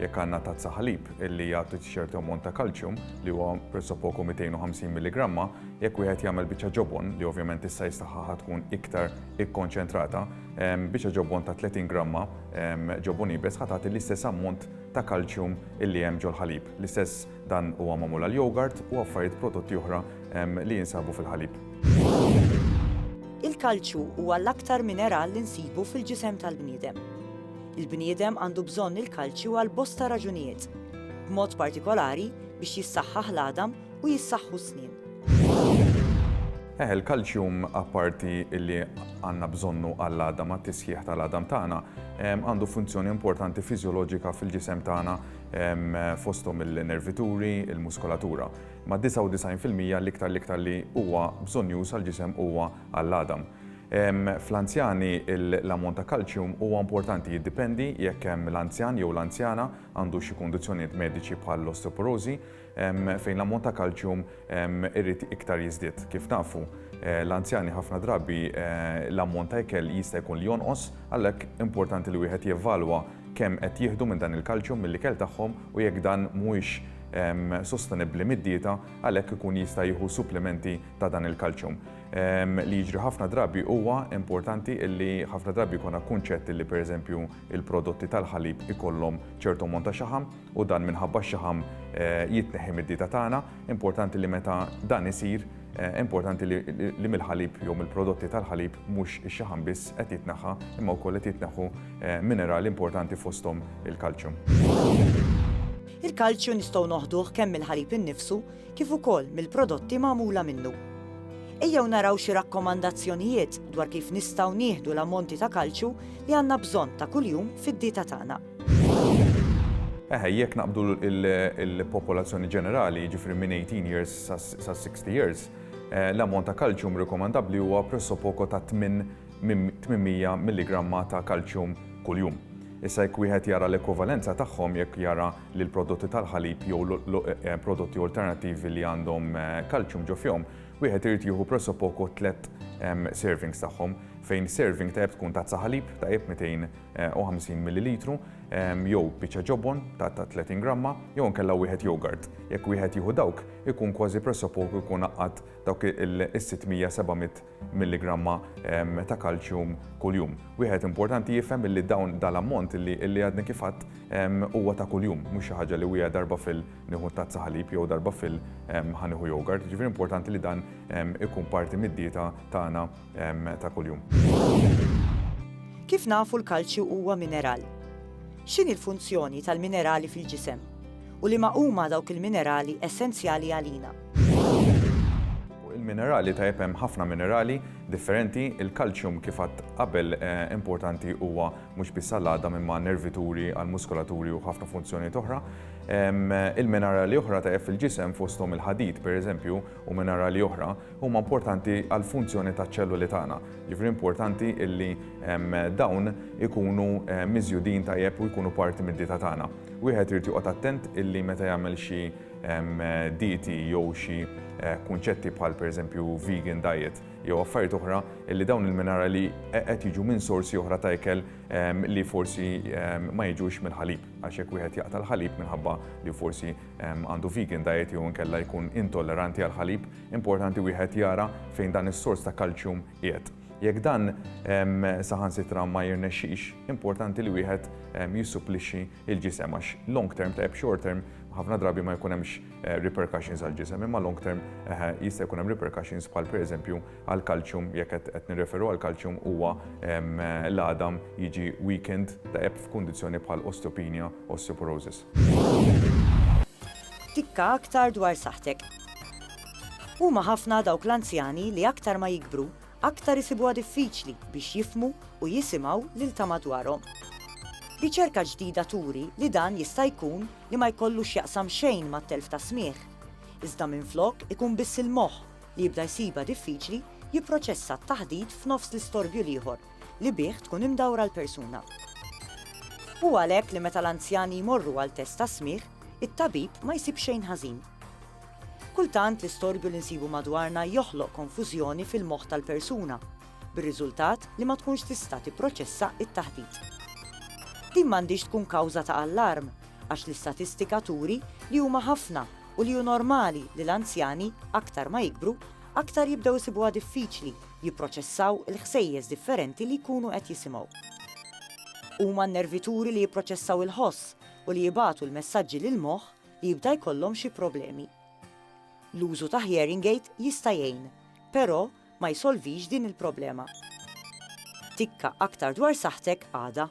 Jekk għandna tazza ħalib li jagħti ċertu ammont ta' kalċjum, li huwa pressopoku 250 milligramma, jekk wieħed jagħmel biċċa ġobon, li ovvjament issa jistaħħaħha tkun iktar ikkonċentrata, biċċa ġobon ta' 30 gramma ġobon iebes ħa tagħti l-istess ammont ta' kalċjum li hemm ġol-ħalib. L-istess dan huwa magħmul għall-jogurt u affarijiet prodotti oħra li jinsabu fil-ħalib. Il-kalċju huwa l-aktar mineral li nsibu fil-ġisem tal-bniedem. Il-bniedem għandu bżonn il-kalċju għal bosta raġunijiet, b'mod partikolari biex jissaħħaħ l-għadam u jissaħħu s-snien. Eh, il-kalċjum apparti li għandna bżonnu għall-għadam, għat-tisħiħ tal-għadam tagħna, għandu funzjoni importanti fiżjoloġika fil-ġisem tagħna fosthom il-nervituri, il-muskolatura. Ma' 99% l-iktar l-iktar li huwa bżonn juża l-ġisem huwa għall-għadam. Fl-anzjani, l-ammont ta' kalċjum huwa importanti, jiddipendi jekk l-anzjan jew l-anzjana għandu xi kundizzjonijiet mediċi bħall-osteoporożi, fejn l-ammont ta' kalċjum irid iktar jiżdied. Kif nafu, l-anzjani ħafna drabi l-ammont ta' ikel jista' jkun li jonqos, għalhekk importanti li wieħed jevalwa kemm qed jieħdu minn dan il-kalċjum mill-ikel tagħhom u jekk dan mhuwiex sostenibbli mid-dieta, għalhekk ikun jista' jieħu supplimenti ta' dan il-kalċjum. Li jiġri ħafna drabi huwa importanti illi ħafna drabi jkun kunċett illi pereżempju il-prodotti tal-ħalib ikollhom ċertu ammont ta' xaħam u dan minħabba x-xaħam eh, jitneħħi mid-dieta tagħna. Importanti li meta dan isir, eh, importanti li mill-ħalib jew mill-prodotti tal-ħalib mhux ix-xaħam biss qed jitneħħa imma wkoll qed jitneħħu eh, minerali importanti fosthom il-kalċjum. Il-kalċju nistgħu noħduh kemm mill-ħalib innifsu kif ukoll mill-prodotti magħmula minnu. Ejjew naraw xi rakkomandazzjonijiet dwar kif nistgħu nieħdu l-ammonti ta' kalċju li għandna bżonn ta' kuljum fid-dieta tagħna. Eħe, jekk naqbdu l-popolazzjoni ġenerali, jiġifieri minn 18 years sa 60 years, eh, l-ammont ta' kalċjum rikomandabbli huwa pressopoko ta' 800 milligramma ta' kalċjum kuljum. Issa jekk wieħed jara l-ekwivalenza tagħhom jekk jara li l-prodotti tal-ħalib jew prodotti alternattivi li għandhom kalċjum ġo fihom, wieħed irid jieħu pressopoco tliet servings tagħhom, fejn serving tajjeb tkun tazza ħalib tajjeb 250 millilitru, jew biċċa ġobon ta' 30 gramma, jew inkella wieħed jogurt. Jekk wieħed jieħu dawk, ikun kważi pressopoco jkun għaqqad dawk is-600-700 milligramma ta' kalċjum kuljum. Wieħed importanti jifhem illi dawn dal-ammont illi illi għadni kif għadt huwa ta' kuljum, mhux xi ħaġa li wieha darba fil nieħu tazza ħalib jew darba fil ħa nieħu yogurt, jiġifieri importanti li dan ikun parti mid-dieta tagħna ta' kuljum. Kif nafu l-kalċju huwa mineral? X'inhi l-funzjoni tal-minerali fil-ġisem u liema huma dawk il-minerali essenzjali għalina? minerali ta' hemm ħafna minerali differenti, il-kalċjum kif għad qabel eh, importanti huwa mhux biss għall-għada mimma nervituri għall-muskolaturi u ħafna funzjoni oħra. Il-minerali oħra ta' fil-ġisem fosthom il-ħadid pereżempju u minerali oħra huma importanti għall-funzjoni taċ ċelluli tagħna. Ġifri importanti illi dawn ikunu eh, miżjudin tajjeb u jkunu parti mid-dieta tagħna. Wieħed irid joqgħod attent illi meta jagħmel xi dieti jew xi kunċetti bħal pereżempju vegan diet jew affarijiet oħra li dawn il-minerali qed jiġu minn sorsi oħra ta' ikel li forsi ma jiġux mill-ħalib għax jekk wieħed jaqta' l-ħalib minħabba li forsi għandu vegan diet jew inkella jkun intolleranti għall-ħalib, importanti wieħed jara fejn dan is-sors ta' kalċjum qiegħed. Jekk dan saħansitra ma jirnexxix, importanti li wieħed jissupplixxi il-ġisem għax long term tajjeb short term ħafna drabi ma jkun hemmx eh, repercussions għal ġisem imma long term eh, jista' jkun hemm repercussions bħal pereżempju għal kalċjum jekk qed nirreferu għal kalċjum huwa eh, l-għadam jiġi weekend ta' eb f'kundizzjoni bħal osteopenia, osteoporosis. Tikka aktar dwar saħtek. Huma ħafna dawk l-anzjani li aktar ma jikbru, aktar isibuha diffiċli biex jifhmu u jisimgħu lil ta' madwarhom. Riċerka ġdida turi li dan jista' jkun li ma jkollu x'jaqsam xejn mat-telf tas-smigħ, iżda minflok ikun biss il-moħħ li jibda jsibha diffiċli jipproċessa t-taħdit f'nofs l-istorbju l-ieħor li bih tkun imdawra l-persuna. Hu għalhekk li meta l-anzjani jmorru għal test tas-smigħ, it-tabib ma jsib xejn ħażin. Kultant l-istorbju li nsibu madwarna joħloq konfużjoni fil-moħħ tal-persuna, bir-riżultat li ma tkunx tista' tipproċessa t-taħdit. Din m'għandhiex tkun kawża ta' allarm, għax l-istatistika turi li huma ħafna u li hu normali li l-anzjani, aktar ma jikbru, aktar jibdew isibuha diffiċli jipproċessaw il-ħsejjes differenti li jkunu qed jisimgħu. Huma n-nervituri li jipproċessaw il-ħoss u li jibagħtu l-messaġġi lill-moħħ li jibda jkollhom xi problemi. L-użu ta' hearing aid jista' jgħin, però ma jsolvix din il-problema. Tikka aktar dwar saħħtek għada.